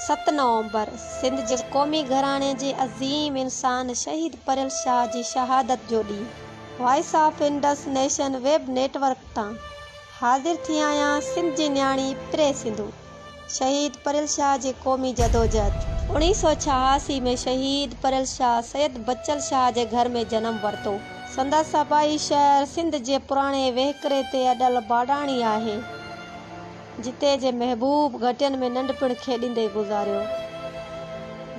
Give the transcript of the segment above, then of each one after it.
ست نومبر، سنڌ جي قومي گهراڻي جي عظيم انسان شهيد پريل شاهه جي شهادت جو ڏينهن، voice of Indus nation web network تان حاضر ٿي آهيان سنڌ جي نياڻي پري سنڌو شهيد پريل شاهه جي قومي جدوجهد. اوڻيهه سؤ ڇهاسي ۾ شهيد پريل شاهه سيد بچل شاهه جي گهر ۾ جنم ورتو. سندس آبائي شهر سنڌ جي پراڻي وهڪري تي اڏل باڊاڻي آهي. جتي جي محبوب گهٽين ۾ ننڍپڻ کيڏيندي گذاريو.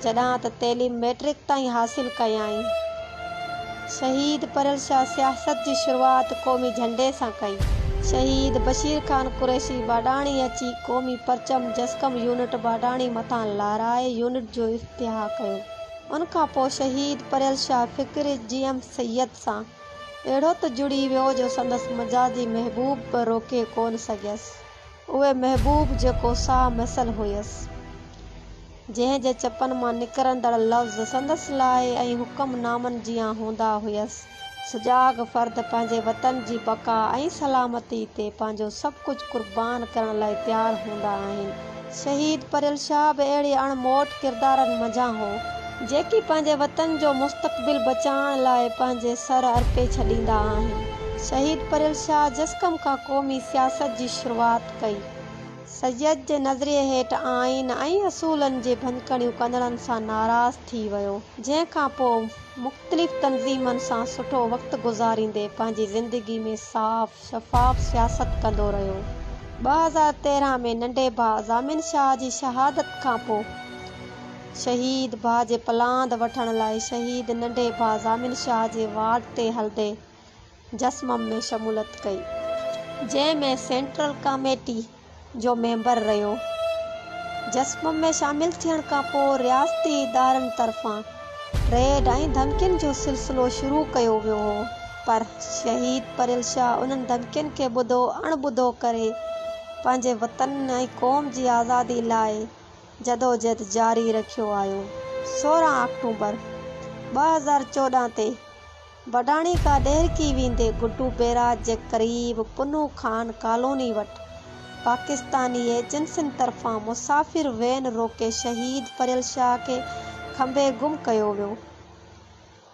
جڏهان ته تعليم مئٽرڪ تائين حاصل ڪيائين. شهيد پرل شاهه سياست جي شروعات قومي جهنڊي سان ڪئي. شهيد بشير خان قريشي باڊاڻي اچي قومي پرچم جسقم يونٽ باڊاڻي مٿان لهرائي يونٽ جو افتتاح ڪيو. ان کان پوء شهيد پرل شاهه فڪري جي ايم سيد سان اهڙو ته جڙي ويو جو سندس مجازي محبوب به روڪي ڪونه سگهيس. اهو محبوب جيڪو ساهه مثل هيس، جنهن جي چپن مان نڪرندڙ لفظ سندس لاء ۽ حڪم نامن جيان هوندا هيس. سجاڳ فرد پنهنجي وطن جي بقا ۽ سلامتي تي پنهنجو سڀ ڪجهه قربان ڪرڻ لاء تيار هوندا آهن. شهيد پريل شاهه به اهڙي اڻ موٽ ڪردارن منجهان هو، جيڪي پنهنجي وطن جو مستقبل بچائڻ لاء پنهنجي سر ارپي ڇڏيندا آهن. شهيد پريل شاهه جسقم کان قومي سياست جي شروعات ڪئي. سيد جي نظريي هيٺ آئين ۽ اصولن جي ڀڃڪڙيون ڪندڙن سان ناراض ٿي ويو، جنهن کان پوء مختلف تنظيمن سان سٺو وقت گذاريندي پنهنجي زندگي ۾ صاف، شفاف سياست ڪندو رهيو. ٻه هزار تيرهن ۾ ننڍي ڀاء ضامن شاهه جي شهادت کانپوء شهيد ڀاء جي پلاند وٺڻ لاء شهيد ننڍي ڀاء ضامن شاهه جي وارڊ تي هلندي جسمم ۾ شمولت ڪئي جنهن ۾ سينٽرل ڪاميٽي، جو ميمبر رهيو. جسم ۾ شامل ٿيڻ کانپوء رياستي ادارن طرفان ريڊ ۽ ڌمڪين جو سلسلو شروع ڪيو ويو هو پر شهيد پريل شاهه انهن ڌمڪين کي ٻڌو اڻ ٻڌو ڪري پنهنجي وطن ۽ قوم جي آزادي لاء جدوجهد جاري رکيو آيو سورهن آڪٽوبر ٻه هزار چوڏهن تي وڏاڻي کان ڏهرڪي ويندي گڊو بيراج جي قريب پنهون خان ڪالوني وٽ پاڪستاني ايجنسين طرفان مسافر وين روڪي شهيد پريل شاهه کي کنڀي گم ڪيو ويو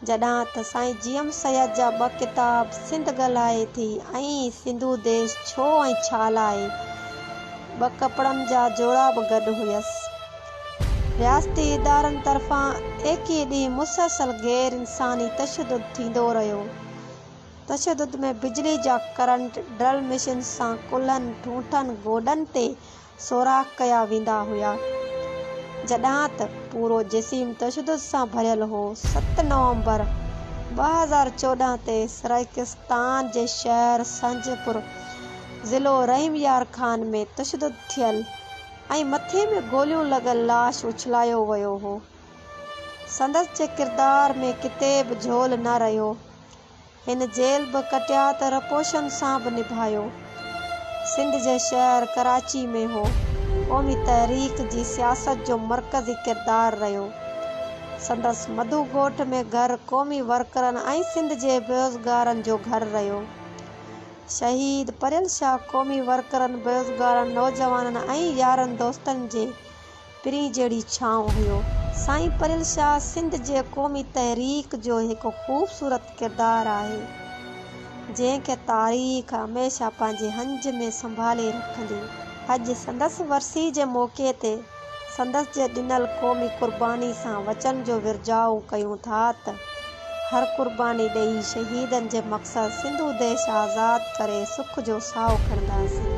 جڏهن ته سائين جي ايم سيد جا ٻه ڪتاب سنڌ ڳالهائي ٿي ۽ سنڌو ديش ڇو ۽ ڇا لاء ٻه ڪپڙن جا جورا به گڏ هيس. رياستي ادارن طرفان ايڪيهه ڏينهن مسلسل غير انساني تشدد ٿيندو رهيو. تشدد ۾ بجلي جا ڪرنٽ ڊرل مشينز سان ڪلهن، ٺونٺن، گوڏن تي سوراخ ڪيا ويندا هيا. جڏهان ته پورو جسيم تشدد سان ڀريل هو. ست نومبر ٻه هزار چوڏهن تي سرائيڪستان جي شهر سنجهه پور ضلعو رحيم يار خان ۾ تشدد ٿيل. ۽ مٿي ۾ گوليون لڳل لاش اڇلايو ويو هو. سندس جي ڪردار ۾ ڪٿي به جهول نه رهيو. هن جيل به ڪٽيا ته رپوشن سان به نڀايو. سنڌ جي شهر ڪراچي ۾ هو. قومي تحريڪ جي سياست جو مرڪزي ڪردار رهيو. سندس مڌو ڳوٺ ۾ گهر قومي ورڪرن ۽ سنڌ جي بيوزگارن جو گهر رهيو. شهيد پريل شاهه قومي ورڪرن، بيروزگارن، نوجوانن ۽ يارن دوستن جي پرين جهڙي ڇانو هيو. سائين پريل شاهه سنڌ جي قومي تحريڪ جو هڪ خوبصورت ڪردار آهي، جنهن کي تاريخ هميشه پنهنجي هنج ۾ سنڀالي رکندي. اڄ سندس ورسي جي موقعي تي سندس جي ڏنل قومي قرباني سان وچن جو ورجاء ڪيون ٿا ته هر قرباني ڏيئي شهيدن جي مقصد سنڌو ديش آزاد ڪري سک جو ساهو کڻنداسين.